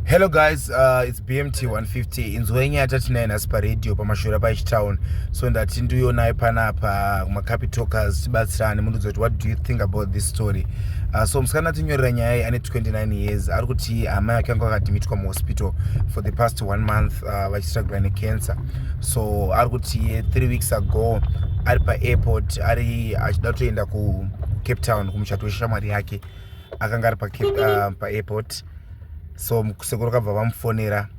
hello guys uh, it's bmt 150 inzwa yenyu yatatiinayo nhasi paradio pamashura paichitown so ndati ndiuyonayo panapa kumacapitokers tibatsirane mundiudza kuti what do you think about this story uh, so musikana atinyorera nyaya iyi ane 29 years ari kuti hama yake anga akadhimitwa muhospital for the past one month uh, vachistragula necancer so ari kuti eh, three weeks ago ari paairport ari achida kutoenda kucape town kumuchato weshamwari yake akanga ari ah, paairport so sekuru kabva vamufonera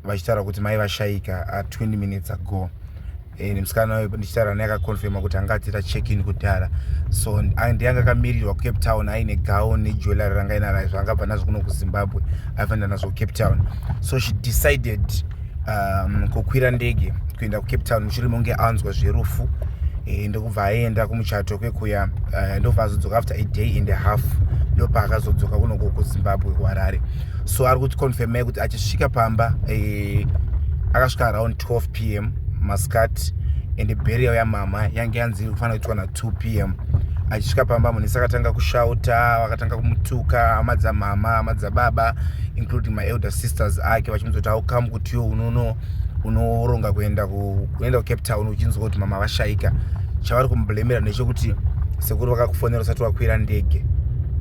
vachitaura kuti mai vashaika a ah, 20 minutes ago eh, musikana wayo ndichitaura naye akaconfirma kuti anga atiita checkin kudhara so ndianga akamirirwa kucape town aine gown nejewellery ranga inaraizvo angabva nazvo kuno kuzimbabwe aifanira nazvo kucape town so she decided um, kukwira ndege kuenda kucape town mushure monge anzwa zverufu e, ndokubva aenda kumuchato kwekuya uh, ndobva azodzoka after a day and a half ndopa akazodzoka kunoko kuzimbabwe kuharare so ari kuti confirmai kuti achisvika pamba e, akasvika around 12 p m masikati and burial yamama yange yanzi iri kufanira kuitwa na 2 pm achisvika pamba munisi akatanga kushauta vakatanga kumutuka hama dzamama hama dzababa including maelder sisters ake vachimuzoti aukamu kuti yo unono unoronga kuenda kuenda kucape town uchinzwa kuti mama vashaika chavari kumublemera ndechokuti sekuru vakakufonera usati wakwira ndege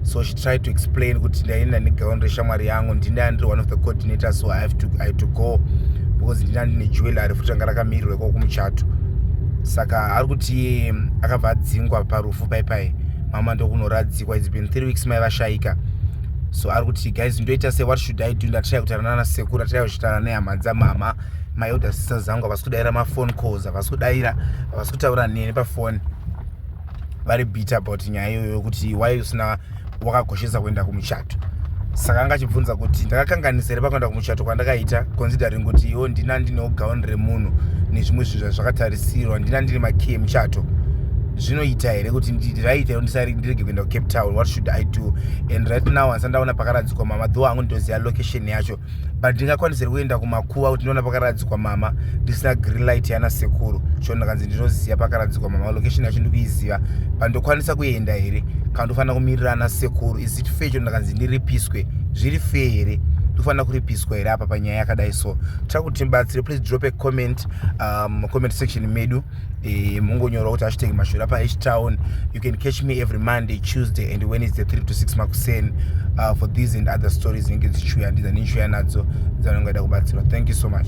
so she tried to explain kuti ndaenda negaon reshamwari yangu ndindaa ndiri one of the coordinator so i have to, I have to go because ndindaa ndine jewellery futi ranga rakamirirwa ikoko kumuchato saka ari kuti akabva adzingwa parufu pai pai mama ndokunoradzikwa its been three weeks mai vashaika so ari kuti guys ndoita se what should i do ndataya kutaura nana sekuru ndataya kuchitaura nehama dzamama my elder sister zangu havasi kudaira mafone calls havasi kudaira havasi kutaura neni pafoni vari bit about nyaya iyoyo yokuti why usina wakakoshesa kuenda kumuchato saka anga achibvunza kuti ndakakanganisa here pakuenda kumuchato kwandakaita considering kuti iwo ndina ndinewo gauni remunhu nezvimwe zvinhu zvazvakatarisirwa ndina ndine makey emuchato zvinoita here kuti ndiraita ndirege kuenda kucape town what should i do and right now handisandaona pakaradzikwa mama dho hangu nditoziva location yacho but ndingakwanisa kuenda kumakuva kuti ndinoona pakaradzikwa mama ndisina green light yana sekuru cho ndakanzi ndinoziva pakaradzikwa mama location yacho ndikuiziva but ndokwanisa kuenda here kana ndofanira kumirira ana sekuru is it fair cho ndakanzi ndiripiswe zviri fair here ndofanira kuripiswa here apa panyaya yakadai so tira kuti tibatsire please drop a comment um, comment section medu eh, mungonyora kuti hashtag mashura paeach town you can catch me every monday tuesday and wednesday 3 to 6 makuseni uh, for these and other stories inenge dzichiuya ndiza ndinchiuya nadzo dzanongaida kubatsirwa thank you so much